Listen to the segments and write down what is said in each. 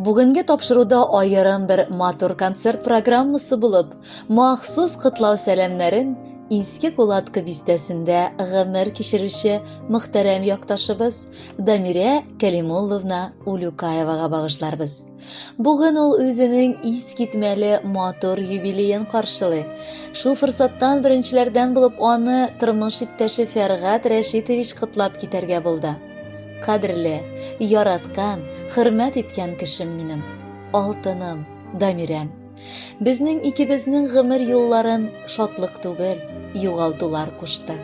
Бүгенге тапшыруда аерым бер матур концерт программасы булып, махсус котлау сәламнәрен Иске Кулатка бистәсендә гомер кичерүче мөхтәрәм якташыбыз Дамирә Кәлимулловна Улюкаевага багышларбыз. Бүген ул үзенең искитмәле матур юбилеен каршылый. Шул форсаттан беренчеләрдән булып аны тормыш иптәше Фәргат Рәшитович котлап китәргә булды. Кадерле, яраткан, хөрмәт иткән кешем минем, алтыным, Дамирәм. Безнең икебезнең гомер юлларын шатлык түгел, югалтулар кушты.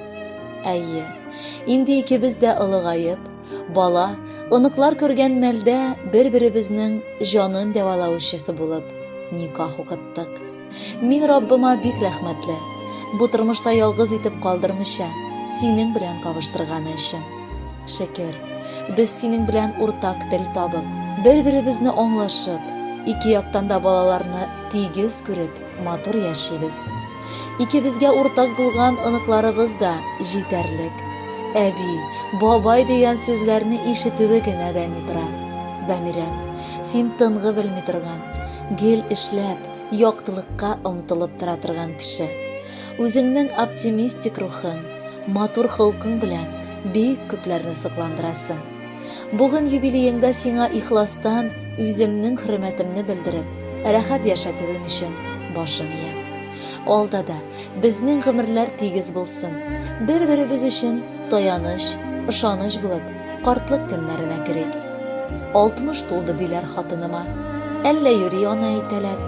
Әйе, инде икебез дә олыгаеп, бала, оныклар күргән мәлдә бер-беребезнең җанын дәвалаучысы булып никах укыттык. Мин Раббыма бик рәхмәтле, бу тормышта ялгыз итеп калдырмыйча, синең белән кавыштырганы өчен. Шөкер, без синең белән уртак тел табып, бер-беребезне аңлашып, ике яктан да балаларны тигез күреп, матур яшибез. Икебезгә уртак булган оныкларыбыз да җитәрлек. Әби, бабай дигән сүзләрне ишетүе генә дә ни тора. Дамирәм, син тынгы белми торган, гел эшләп, яктылыкка омтылып тора торган кеше. Үзеңнең оптимистик рухың, матур холкың белән бик күпләрне сокландырасың. Бүген юбилееңда сиңа ихластан үземнең хөрмәтемне белдереп, рәхәт яшәтүең өчен башым иям. Алда да безнең гомерләр тигез булсын. Бер-беребез өчен таяныч, ышаныч булып, Картлык көннәренә керик. Алтмыш тулды диләр хатыныма. Әллә йөри ана әйтәләр,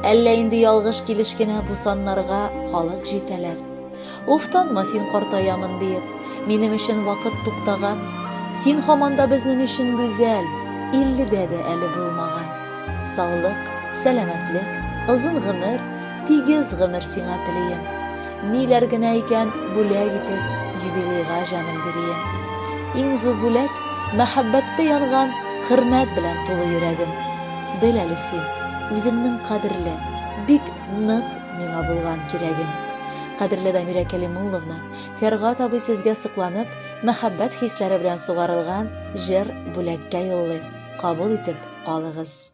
әллә инде ялгыш килеш кенә бу саннарга халык җитәләр. Уфтанма син картаямын диеп, минем өчен вакыт туктаган. Син һаман да безнең өчен гүзәл, илледә дә әле булмаган. Саулык, сәламәтлек, озын гомер, тигез гомер сиңа телим. Ниләр генә икән бүләк итеп юбилейга җаным бирием. Иң зур бүләк мәхәббәттә янган хөрмәт белән тулы йөрәгем. Бел әле син, үзеңнең кадерле, бик нык миңа булган кирәгең. Кадерле Дамира Кәлимулловна, Фәргат абый сезгә сыкланып, мәхәббәт хисләре белән сугарылган җыр бүләккә юллый. Кабул итеп алыгыз.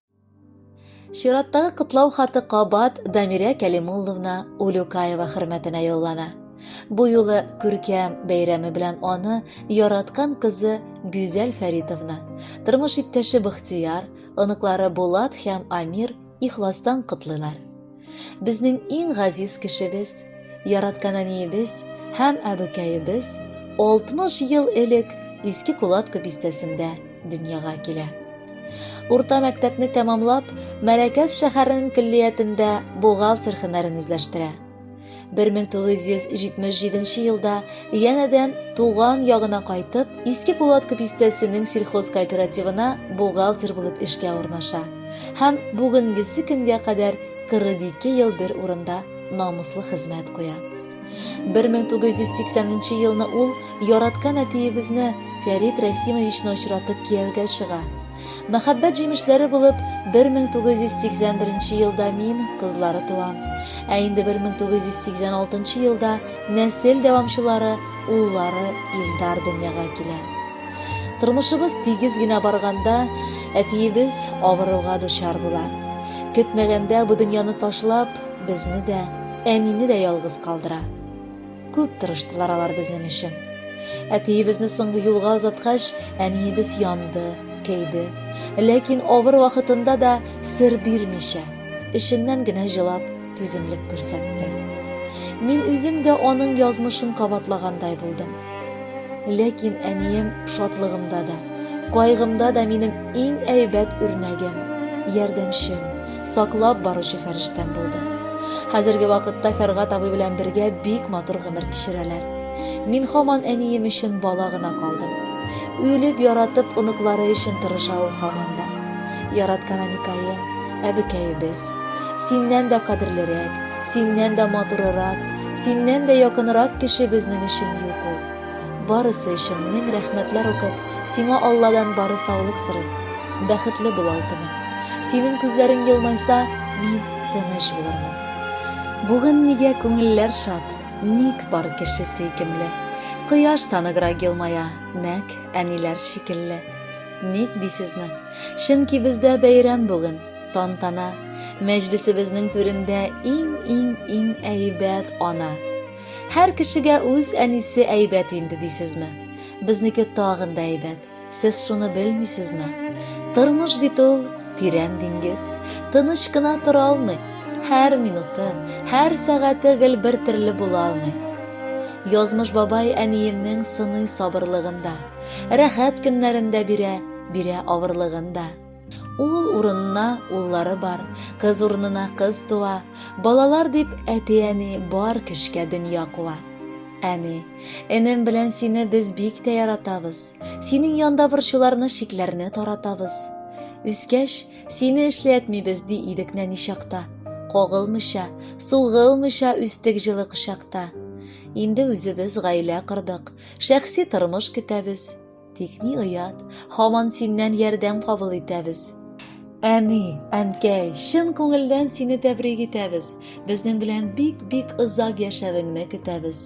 Чираттагы котлау хаты кабат Дамирә Кәлимулловна Улюкаева хөрмәтенә юллана. Бу юлы күркәм бәйрәме белән аны яраткан кызы Гүзәл Фәритовна, тормыш иптәше Быхтияр, оныклары Булат һәм Амир ихластан котлыйлар. Безнең иң газиз кешебез, яраткан әниебез һәм әбекәебез 60 ел элек Иске Кулатка бистәсендә дөньяга килә. Урта мәктәпне тәмамлап, Мәләкәс шәһәренең көллиятендә бухгалтер һөнәрен үзләштерә. 1977 елда янәдән туган ягына кайтып, Иске Кулаткы бистәсенең сельхоз кооперативына бухгалтер булып эшкә урнаша һәм бүгенгесе көнгә кадәр 42 ел бер урында намуслы хезмәт куя. 1980 елны ул яраткан әтиебезне Фәрит Расимовичны очратып кияүгә чыга. Мәхәббәт җимешләре булып 1981 елда мин кызлары туам. Ә инде 1986 елда нәсел дәвамчылары уллары Илдар дөньяга килә. Тормышыбыз тигез генә барганда, әтиебез авыруга дучар була. Көтмәгәндә бу дөньяны ташлап, безне дә, әнине дә ялгыз калдыра. Күп тырыштылар алар безнең өчен. Әтиебезне соңгы юлга озаткач, әниебез янды, кәйде. Ләкин авыр вакытында да сер бирмичә, эшеннән генә җылап, түземлек күрсәтте. Мин үзем дә аның язмышын кабатлагандай булдым. Ләкин әнием шатлыгымда да, кайгымда да минем иң әйбәт үрнәгем, ярдәмчем, саклап баручы фәрештәм булды. Хәзерге вакытта Фәргат абый белән бергә бик матур гомер кичерәләр. Мин хаман әнием өчен бала гына калдым. Үлеп яратып оныклары өчен тырыша ул хаман да. Яраткан әникаем, әбекәебез. Синнән дә кадерлерәк, синнән дә матурырак, синнән дә якынрак кеше безнең өчен юк ул. Барысы өчен мең рәхмәтләр укып, сиңа Алладан бары саулык сорыйм. Бәхетле бул, алтыным. Синең күзләрең елмайса, мин тыныч булырмын. Бүген нигә күңелләр шат, ник бар кеше сөйкемле? Кояш таныграк елмая, нәк әниләр шикелле. Ник дисезме? Чөнки бездә бәйрәм бүген, тантана. Мәҗлесебезнең түрендә иң-иң-иң әйбәт ана. Һәр кешегә үз әнисе әйбәт инде дисезме? Безнеке тагын да әйбәт. Сез шуны белмисезме? Тормыш бит ул тирән диңгез. Тыныч кына тора алмый. Һәр минуты, һәр сәгате гел бер төрле була алмый. Язмыш бабай әниемнең сыный сабырлыгында, рәхәт көннәрендә бирә, бирә авырлыгында. Ул урынына уллары бар, кыз урынына кыз туа, балалар дип әти-әни бар көчкә дөнья куа. Әни, энем белән сине без бик тә яратабыз. Синең янда борчуларны шикләрне таратабыз. Үскәч, сине эшләтмибез ди идек нәни чакта. Кагылмыйча, сугылмыйча үстек җылы кочакта. Инде үзебез гаилә кордык, шәхси тормыш көтәбез. Тик ни оят, һаман синнән ярдәм кабул итәбез. Әни, әнкәй, чын күңелдән сине тәбрик итәбез. Безнең белән бик-бик озак яшәвеңне көтәбез.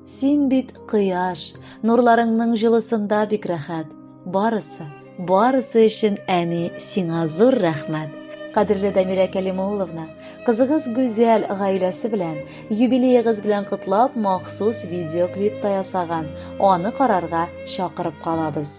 Син бит кояш, нурларыңның җылысында бик рәхәт. Барысы, барысы өчен әни сиңа зур рәхмәт. Кадерле Дамирә Кәлимулловна, кызыгыз Гүзәл гаиләсе белән Юбилеегыз белән котлап махсус видеоклип та ясаган. Аны карарга чакырып калабыз.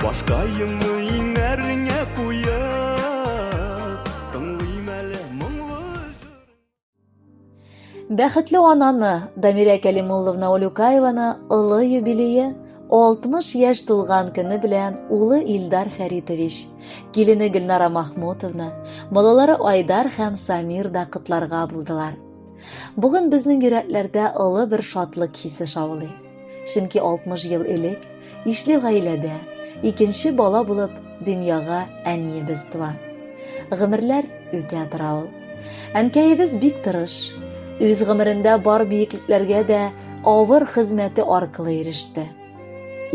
Башкаемны иңәреңә куеп, тыңлыйм әле моңлы Бәхетле ананы, Дамирә Кәлимулловна Олюкаеваны олы юбилее 60 яшь тулган көне белән улы Илдар Фәритович, килене Гөлнара Махмутовна, балалары Айдар һәм Самир да котларга булдылар. Бүген безнең йөрәкләрдә олы бер шатлык хисе шаулый. Чөнки 60 ел элек ишле гаиләдә икенче бала булып дөньяга әниебез туа. Гомерләр үтә тора ул. Әнкәебез бик тырыш. Үз гомерендә бар биеклекләргә дә авыр хезмәте аркылы иреште.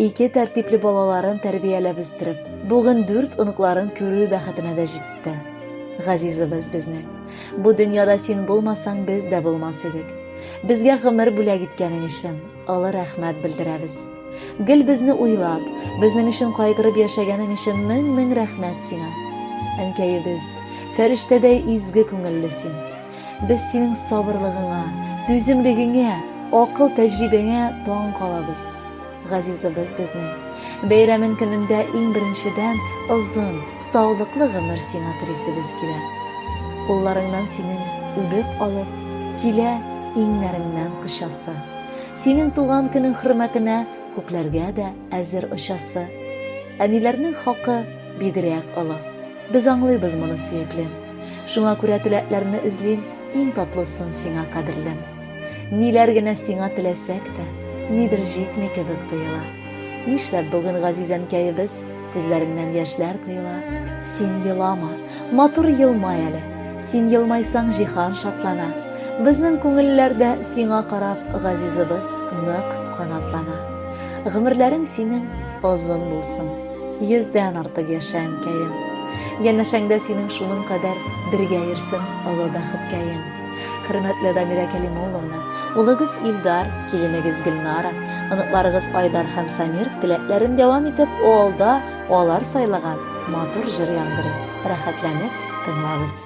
Ике тәртипле балаларын тәрбияләп үстереп, бүген дүрт оныкларын күрү бәхетенә дә җитте. Газизыбыз безнең. Бу дөньяда син булмасаң, без дә булмас идек. Безгә гомер бүләк иткәнең өчен олы рәхмәт белдерәбез. Гел безне уйлап, безнең өчен кайгырып яшәгәнең өчен мең-мең рәхмәт сиңа. Әнкәебез, фәрештәдәй изге күңелле син. Без синең сабырлыгыңа, түземлегеңә, акыл тәҗрибәңә таң калабыз. Газизыбыз безнең. Бәйрәмен көнендә иң беренчедән озын, саулыклы гомер сиңа телисебез килә. Кулларыңнан синең үбеп алып, килә иңнәреңнән кочасы. Синең туган көнең хөрмәтенә күкләргә дә әзер очасы. Әниләрнең хакы бигрәк олы. Без аңлыйбыз моны, сөеклем. Шуңа күрә теләкләрне эзлим, иң татлысын сиңа, кадерлем. Ниләр генә сиңа теләсәк тә, нидер җитми кебек тоела. Нишләп бүген газизәнкәебез күзләреннән яшьләр коела? Син елама, матур елмай әле. Син елмайсаң җиһан шатлана. Безнең күңелләрдә сиңа карап газизыбыз нык канатлана. Гомерләрең синең озын булсын. Йөздән артык яшә әнкәем. Янәшәңдә синең шуның кадәр бергә йөрсен олы бәхеткәем. Хөрмәтле Дамира Кәлимулловна, улыгыз Илдар, киленегез Гөлнара, оныкларыгыз Айдар һәм Самир теләкләрен дәвам итеп, алда алар сайлаган матур җыр яңгырый. Рәхәтләнеп тыңлагыз.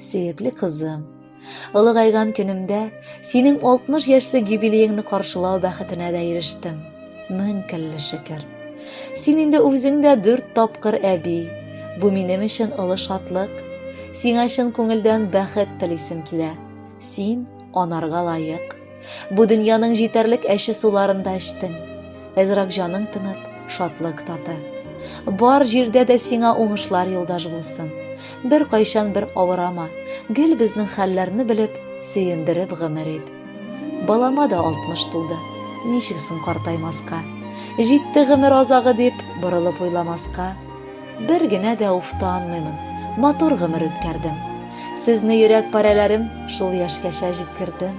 Сөекле кызым, олыгайган көнемдә синең 60 яшьлек юбилееңны каршылау бәхетенә дә ирештем. Мең кәлле шөкер. Син инде үзең дә дүрт тапкыр әби. Бу минем өчен олы шатлык. Сиңа чын күңелдән бәхет телисем килә. Син анарга лаек. Бу дөньяның җитәрлек әче суларын да эчтең. Әзрак җаның тынып, шатлык таты. Бар җирдә дә сиңа уңышлар юлдаш булсын. Бер кайчан бер авырама, гел безнең хәлләрне белеп, сөендереп гомер ит. Балама да 60 тулды. Ничек соң картаймаска? Җитте гомер азагы дип, борылып уйламаска. Бер генә дә уфтанмыймын, матур гомер үткәрдем. Сезне йөрәк парәләрем шул яшькәчә җиткердем.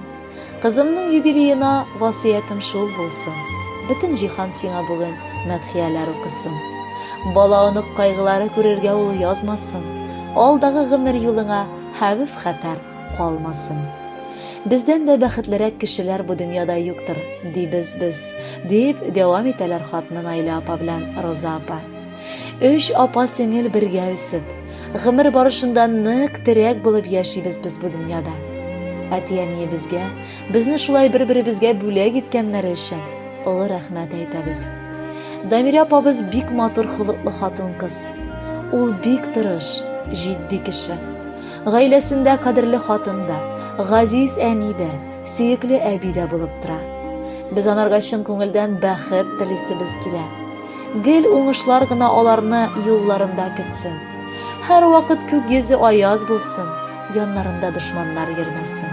Кызымның юбилеена васыятым шул булсын. Бөтен җиһан сиңа бүген мәдхияләр укысын. Бала онык кайгылары күрергә ул язмасын. Алдагы гомер юлыңа хәвеф хәтәр калмасын. Бездән дә бәхетлерәк кешеләр бу дөньяда юктыр, дибез без, дип дәвам итәләр хатны Наилә апа белән Роза апа. Өч апа-сеңел бергә үсеп, гомер барышында нык терәк булып яшибез без бу дөньяда. Әти-әниебезгә, безне шулай бер-беребезгә бүләк иткәннәре өчен олы рәхмәт әйтәбез. Дамирә апабыз бик матур холыклы хатын-кыз. Ул бик тырыш, җитди кеше. Гаиләсендә кадерле хатын да, газиз әни дә, сөекле әби дә булып тора. Без анарга чын күңелдән бәхет телисебез килә. Гел уңышлар гына аларны юлларында көтсен. Һәр вакыт күк йөзе аяз булсын, яннарында дошманнар йөрмәсен.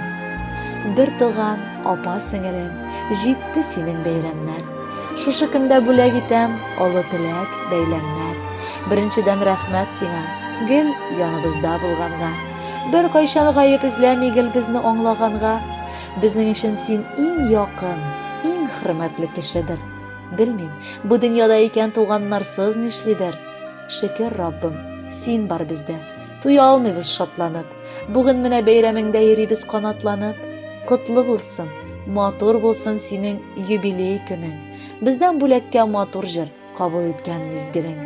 Бер туган, апа сеңелем, җитте синең бәйрәмнәр. Шушы көндә бүләк итәм олы теләк, бәйләмнәр. Беренчедән рәхмәт сиңа, гел яныбызда булганга. Бер кайчан гаеп эзләми гел безне аңлаганга. Безнең өчен син иң якын, иң хөрмәтле кешедер. Белмим, бу дөньяда икән туганнарсыз нишлидер. Шөкер, Раббым, син бар бездә. Туя алмыйбыз шатланып. Бүген менә бәйрәмеңдә йөрибез канатланып. Котлы булсын, матур булсын синең юбилей көнең. Бездән бүләккә матур җыр, кабул иткән мизгелең.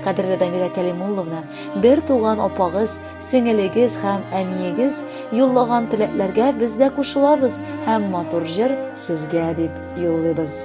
Кадерле Дамира Кәлимулловна, бер туган апагыз, сеңелегез һәм әниегез юллаган теләкләргә без дә кушылабыз һәм матур җыр сезгә дип юллыйбыз.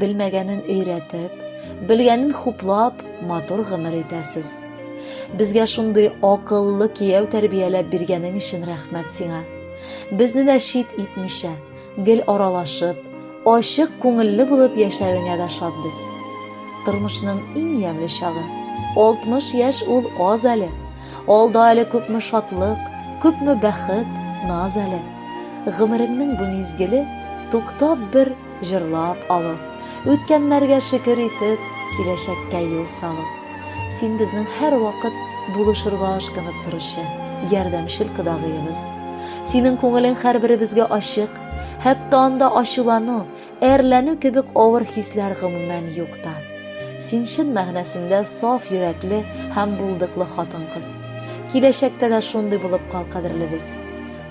Белмәгәнен өйрәтеп, белгәнен хуплап, матур гомер итәсез. Безгә шундый акыллы кияү тәрбияләп биргәнең өчен рәхмәт сиңа. Безне дә чит итмичә, гел аралашып, ачык күңелле булып яшәвеңә дә шат без. Тормышның иң ямьле чагы. 60 яшь ул аз әле. Алда әле күпме шатлык, күпме бәхет, наз әле. Гомереңнең бу мизгеле туктап бер Җырлап алу, үткәннәргә шөкер итеп, киләчәккә юл салу. Син безнең һәрвакыт булышырга ашкынып торучы, ярдәмчел кодагыебыз. Синең күңелең һәрберебезгә ачык, хәтта анда ачулану, әрләнү кебек авыр хисләр гомумән юк та. Син чын мәгънәсендә саф йөрәкле һәм булдыклы хатын-кыз. Киләчәктә дә шундый булып кал, кадерлебез.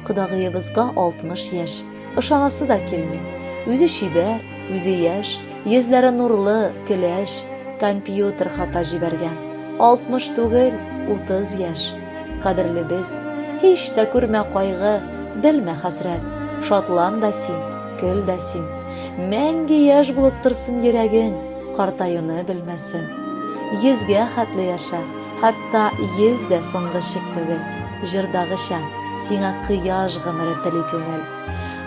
Кодагыебызга 60 яшь. Ышанасы да килми. Үзе чибәр, үзе яшь, йөзләре нурлы, көләч, компьютер хата җибәргән. 60 түгел, 30 яшь. Кадерлебез, һич тә күрмә кайгы, белмә хәсрәт. Шатлан да син, көл дә син. Мәңге яшь булып торсын йөрәгең, картаюны белмәсен. Йөзгә хәтле яшә, Хәтта йөз дә соңгы шик түгел, җырдагыча, сиңа кояш гомере тели күңел.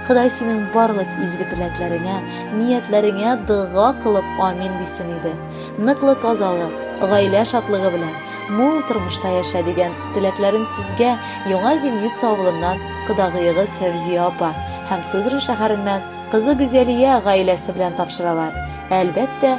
Ходай синең барлык изге теләкләреңә, ниятләреңә дога кылып амин дисен иде. Ныклы тазалык, гаилә шатлыгы белән, мул тормышта яшә дигән теләкләрен сезгә Яңа Зимница авылыннан кодагыегыз Фәвзия апа һәм Сызран шәһәреннән кызы Гүзәлия гаиләсе белән тапшыралар. Әлбәттә,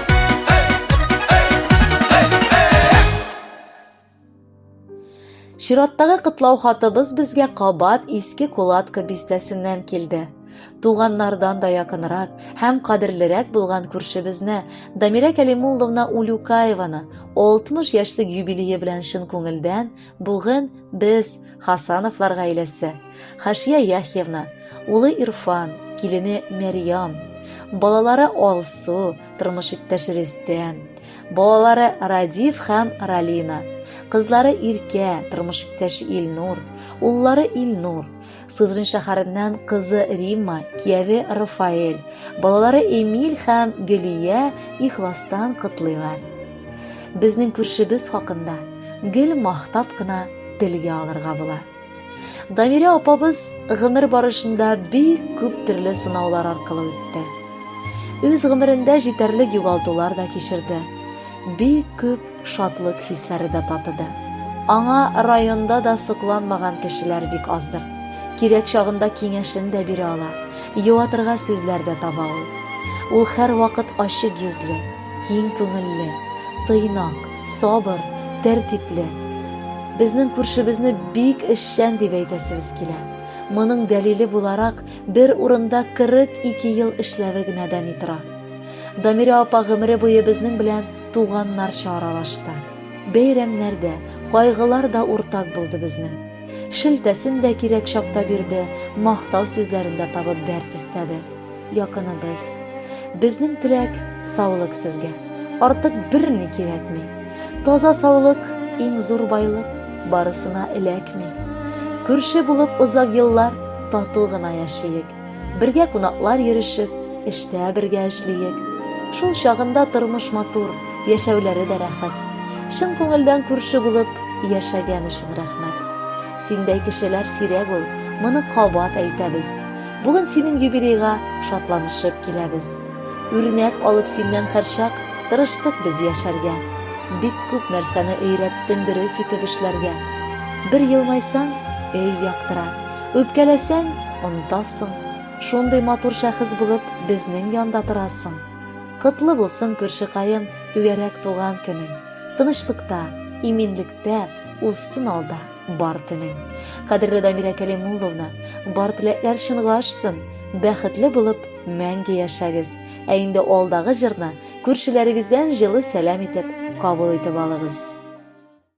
Чираттагы котлау хатыбыз безгә кабат иске кулатка бистәсеннән килде. Туганнардан да якынрак һәм кадерлерәк булган күршебезне Дамирә Кәлимулловна Улюкаеваны 60 яшьлек юбилее белән чын күңелдән Бүген без Хасановлар гаиләсе, Хашия Яхьевна, улы Ирфан, килене Мәрьям, балалары Алсу, тормыш иптәше Рөстәм, балалары Радиф һәм Ралина, кызлары Иркә, тормыш иптәше Илнур, уллары Илнур, Сызрин шәһәреннән кызы Римма, кияве Рафаэль, балалары Эмиль һәм Гөлия ихластан котлыйлар. Безнең күршебез хакында гел мактап кына телгә алырга була. Дамирә апабыз гомер барышында бик күп төрле сынаулар аркылы үтте. Үз гомерендә җитәрлек югалтулар да кичерде. Бик күп Шатлык хисләре дә татыды. Аңа районда да сокланмаган кешеләр бик аздыр. Кирәк чагында киңәшен дә бирә ала, юатырга сүзләр дә таба ул. Ул һәрвакыт ачык йөзле, киң күңелле, тыйнак, сабыр, тәртипле. Безнең күршебезне бик эшчән дип әйтәсебез килә. Моның дәлиле буларак, бер урында 42 ел эшләве генә дәни тора. Дамирә апа гомере буе безнең белән Туганнарча аралашты. Бәйрәмнәр дә, кайгылар да уртак булды безнең. Шелтәсен дә кирәк чакта бирде, мактау сүзләрен дә табып дәрт истәде. Якыныбыз. Безнең теләк, саулык сезгә. Артык берни кирәкми. Таза саулык, иң зур байлык, барысына эләкми. Күрше булып озак еллар тату гына яшиек. Бергә кунаклар йөрешеп, эштә бергә эшлиек. Шул чагында тормыш матур, яшәүләре дә рәхәт. Чын күңелдән күрше булып яшәгән өчен рәхмәт. Синдәй кешеләр сирәк ул, моны кабат әйтәбез. Бүген синең юбилейга шатланышып киләбез. Үрнәк алып синнән һәрчак тырыштык без яшәргә. Бик күп нәрсәне өйрәттең дөрес итеп эшләргә. Бер елмайсаң, өй яктыра. Үпкәләсәң, онтасың. Шундый матур шәхес булып безнең янда торасың. Котлы булсын күршекаем түгәрәк туган көнең. Тынычлыкта, иминлектә узсын алда бар төнең. Кадерле Дамирә Кәлимулловна, бар теләкләр чынга ашсын, бәхетле булып мәңге яшәгез. Ә инде алдагы җырны күршеләрегездән җылы сәлам итеп кабул итеп алыгыз.